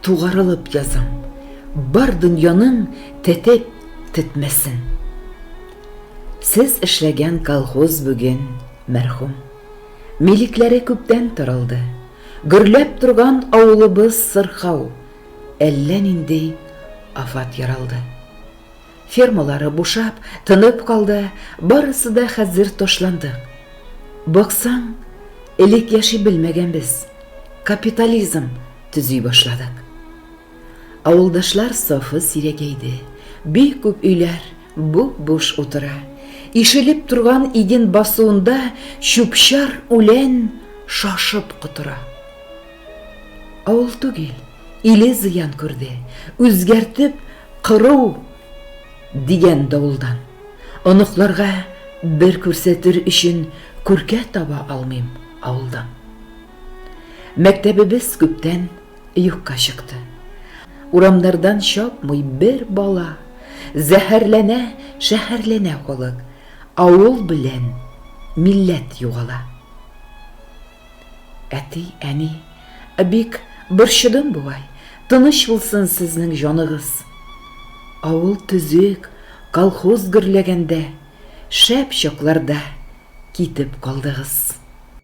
Тугарылып язам, бар дөньяның тетеп тетмәсен. Сез эшләгән колхоз бүген мәрхүм. Милекләре күптән таралды. Гөрләп торган авылыбыз сырхау, әллә нинди афат яралды. Фермалары бушап, тынып калды, барысы да хәзер ташландык. Баксаң, элек яши белмәгәнбез, капитализм төзи башладык. Авылдашлар сафы сирәгәйде, бик күп өйләр буп-буш утыра. Ишелеп торган иген басуында чүпчар үлән шашып котыра. Авыл түгел, иле зыян күрде, үзгәртеп, Кыру! дигән давылдан оныкларга бер күрсәтер өчен күркә таба алмыйм авылдан. Мәктәбебез күптән юкка чыкты. Урамнардан чапмый бер бала, зәһәрләнә, шәһәрләнә халык, авыл белән милләт югала. Әти, әни, бик борчыдым бугай, тыныч булсын сезнең җаныгыз. Авыл төзек, колхоз гөрләгәндә, шәп чакларда китеп калдыгыз.